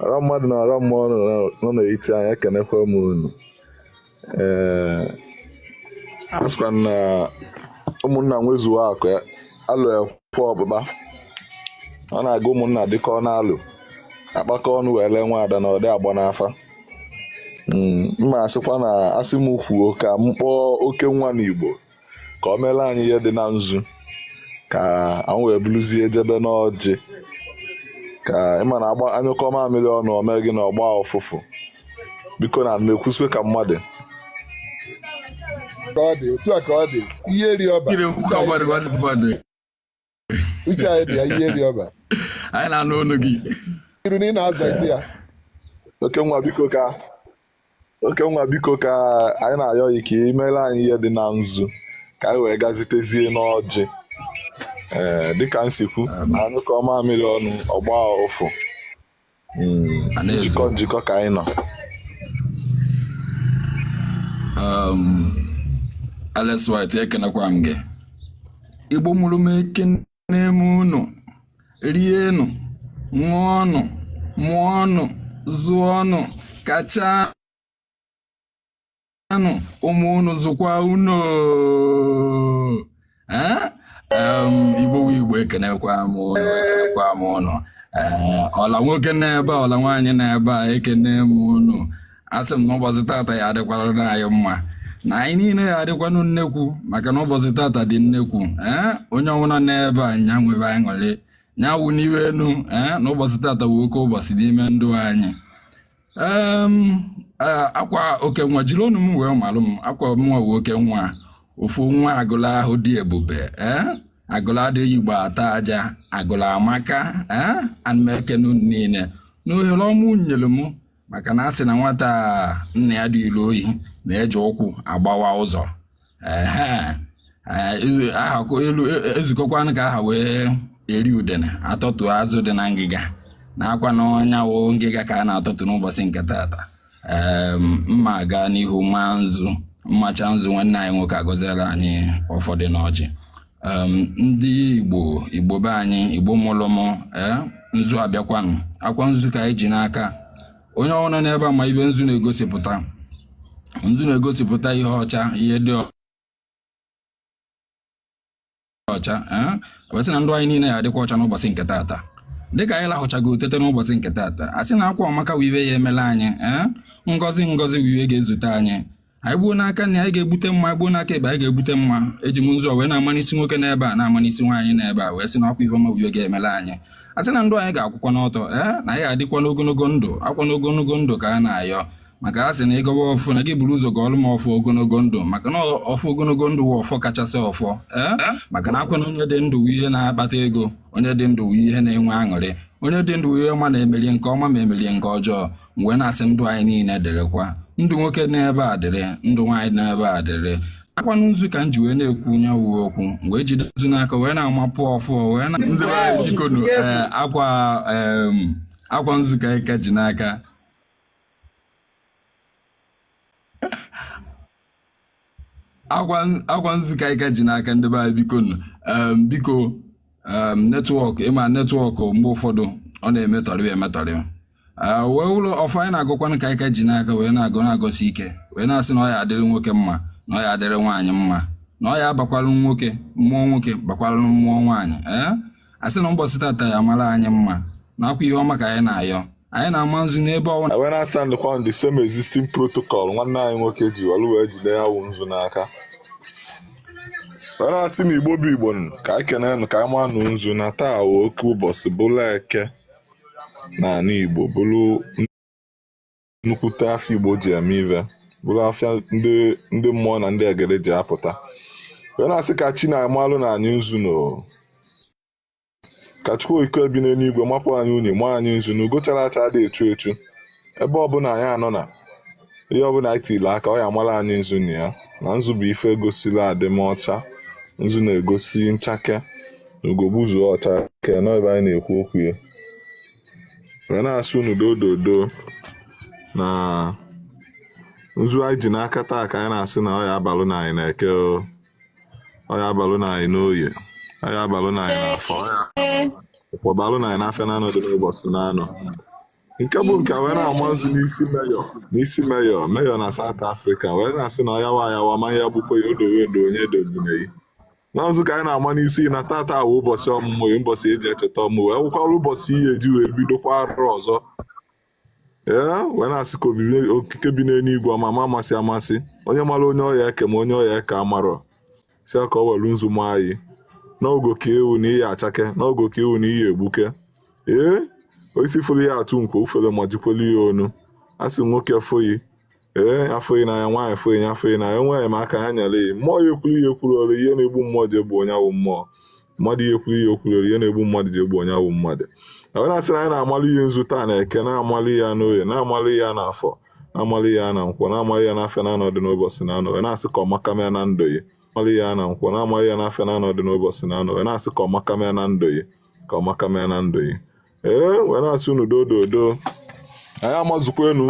ọra mmadụ na ọra mmụọ nọ na- nọ n'etiti anyị ekenekwa m unu ee a sịkwa m na ụmụnna nwezuo akụ ya alụ ekwe ọkpụkpa ọ na-aga ụmụnna dịka ọ na-alụ a kpakọọ ọnụ wee lee nwa ada na ọ dị agba n'afa Mm, mma asịkwa na asị m kwuo ka m kpọọ oke nwa n'igbo ka o meelụ anyị ihe dị na nzu ka anyị wee buluzie jebe n'ọjị ka ị ma na agba a nyụkọọ mamịrị ọnụ o mee gịnị ọ gbaa ụfụfụ biko na m ekwusikwe ka mmadụ ka ọ dị otu a ka ọ dị ihe ri ọba Kiri ụka gbara mmadụ. uche anyị dị ya ihe dị ọba anyị na-anụ olu gị iru na ị na-azazi ya oke nwa biko ka oke nwa biko ka anyị na-ayọ gị ka i meere anyị ihe dị na nzu ka anyị wee gazitezie n'ọjị ee dịka m si kwu na a nyụkọọ mamịrị ọnụ ọ gbaa ụfụ njikọ njikọ ka anyị nọ um, Alex White ekenekwa m gị igbo mụrụ m ekene m unu rienụ ṅụọnụ mụọnụ zụọnụ kacha anụ ụmụ unu zụkwaa unu igbo igbo ekenekwa m unu ekenekwa m unu ọla nwoke nọ ebe ọla nwaanyị nọ ebe a ekene m unu asị m na ụbọchị tata ya adịkwara anyị mma na anyị niile ya adịkwanụ nnekwu maka na ụbọchị tata dị nnekwu ee onye ọ wụna nọ ebe a nya nwebe aṅụrị nya wụ n'iwe enu ee na ụbọchị tata wụ oke ụbọchị n'ime ndụ anyị Em, eh, akwa oke nwa jiri ọnụ m wee malụ m akwa mụnwa wụ oke nwa ofu nwa Agụlụ ahụ dị ebube eh? Agụlụ adịghị igbo ata aja Agụlụ amaka eh? ana m ekene unu niile na ohere ọma unu nyere m maka na a sị na nwata nna ya dulu ohi na-eji ụkwụ agbawa ụzọ e zukọkwanụ ka a ha wee eri udene a tọtụa azụ dị na ngịga na akwanụ nya wụ ngịga ka a na-atọtụ n'ụbọchị nke tata mma gaa n'ihu maa nzu m machaa nzu nwanne anyị nwoke agọziela anyị ụfọdụ n'ọjị ndị igbo igbo be anyị igbo mụlụ mụ eh, nzu abịakwanụ akwa nzu ka anyị ji n'aka onye ọ wụna nọ n'ebe a ma ihe nzu na-egosipụta nzu na-egosipụta ihe ọcha ihe dị ọcha ee wee sị na ndụ anyị niile ya adịkwa ọcha n'ụbọchị nke taata dịka anyị lahụchago tete n'ụbọchị nke taata a sị na akwa ọmaka wụ ihe ya-emelụ anyị ee ngọzi ngọzi wụ ihe ga-ezute anyị anyị gbuo n'aka nni anyị ga-egbute mma anyị gbuo n'aka ekpe anyị ga-egbute mma eji m nzu wee na-ama n'isi nwoke n'ebe a na-ama n'isi nwaanyị n'ebe a wee sị na ọkwa ihe ọma uyo ga-emela anyị a sị na ndụ anyị ga-akwụkwanụ ọtọ ee eh, na anyị ga-adịkwa n'ogologo ndụ akwanụ ogologo ndụ ka a na-ayọ maka a sị na ị gọwa ọfọ na gị buru ụzọ gọọlụ m ọfọ ogologo ndụ maka na ọfọ ogologo ndụ wụ ọfọ kachasị ọfọ ee eh, eh? maka na akwa na onye dị ndụ ihe na-akpata ego onye dị ndụ ihe na-enwe aṅụrị onye dị ndụ ihe ọma na-emerie nke ọma ma emerie nke ọjọọ wee na-asị ndụ anyị niile dịrịkwa ndụ nwoke n'ebe a dịrị ndụ nwaanyị n'ebe a dịrị akwanụ nzu ka m ji wee na-ekwu nya wụ okwu m wee jide nzu n'aka wee na-amapụ ọfọ wee na ndị anyị jikọnụ ee, akwa em, akwa nzu ka anyị ka ji n'aka akwa akwa nzu ka anyị ka ji n'aka ndị be anyị biko nụ. Em, biko em, netwọk ị ma netwọk mgbe ụfọdụ ọ na-emetọrị emetọrị Ah, welụ ọfọ anyị na-agọkwanụ ka anyị ka ji n'aka wee na-agọ na-agọsi ike wee na-asị na ọ ya adịrị nwoke mma na ọ ya adịrị nwaanyị mma na ọ ya abakwalụ nwoke mmụọ nwoke bakwalụ mmụọ nwaanyị ee a sị na mbọsị tata ya amara anyị mma na akwa ihe ọma ka anyị na-ayọ anyị na-ama nzu n'ebe ọnwa wee na-astandkwa on the same existing protocol nwanne anyị nwoke ji were wee jide ya wụ nzu n'aka wee na-asị na igbo bụ igbo nụ, ka anyị kenee nụ ka anyị manụ nzu na taa wụ oke ụbọsị bụrụ eke na anị igbo bụrụ nnukwute afịa Igbo ji eme ive bụrụ afịa ndị mmụọ na ndị egede ji apụta wee na-asị ka chi na-amalụnụ anyị nzu nụ ka Chukwu okike bi n'eluigwe mapụ anyị unyi ma anyị nzu na ugo chara acha adị echu echu ebe ọbụla anyị nọ na ihe ọbụla anyị tiri aka ọ ya amara anyị nzu na ya na nzu bụ ife egosila adịmọcha nzu na-egosi nchake na ugo gbuzuo ọ chakee nọ ebe anyị na-ekwu okwu ya wee na-asị unu dododo na nzu anyị ji n'aka taa ka anyị na-asị na ọya abalụ na anyị n'eke ọya abalụ na anyị n'oye ọya abalụ na anyị n'afọ nkwọ balụ na anyị n'afịa naanọ dị n'ụbọchị naanọ nke bụ nke wee na-ama nzu n'isi Mayor n'isi Mayor Mayor na South Africa wee na-asị na ọyawa ayawa ma ya gbukwa ya odowe edo onye dogbunei na nzu ka anyị na-ama n'isi na tata wụ ụbọchị ọmụmụ ya ụbọchị eji echeta ọmụmụ wee wụkwara ụbọchị ihe eji wee bidokwa arọ ọzọ ee wee na-asị ka obibi okike bi n'eluigwe ọmama amasị amasị onye mara onye ọya eke ma onye ọya eke amarọ sị ka ọ welu nzu ma anyị n'ogo ka ewu na iyi achake n'ogo ka ewu na iyi egbuke ee osisi fụrụ ya atụ nkwo ufere ma jikwelu ya ọnụ a sị nwoke foyi ee afọghị n'anya nwaanyị afọghị ya afọghị n'anya nwaanyị ma aka ha nyere ya mmụọ ya ekwuru ya ekwuru ọrụ ihe na-egbu mmụọ ji egbu onye awụ mmụọ mmadụ ya ekwuru ya ekwuru ọrụ ihe na-egbu mmadụ ji egbu onye awụ mmadụ onye na-asị na anyị na-amalụ ihe nzu taa na eke na-amalụ ya n'oye na-amalụ ya n'afọ na-amalụ ya na nkwọ na-amalụ ya n'afịa na anọdụ n'ụbọchị na anọ na-asị ka ọmaka mee na ndụ ya amalụ ya na nkwọ na-amalụ ya n'afịa na anọdụ n'ụbọchị na anọ na-asị ka ọmaka mee na ndụ ya ka ọmaka mee na ndụ ya ee wee na-asị unu dododo anyị amazukwa enu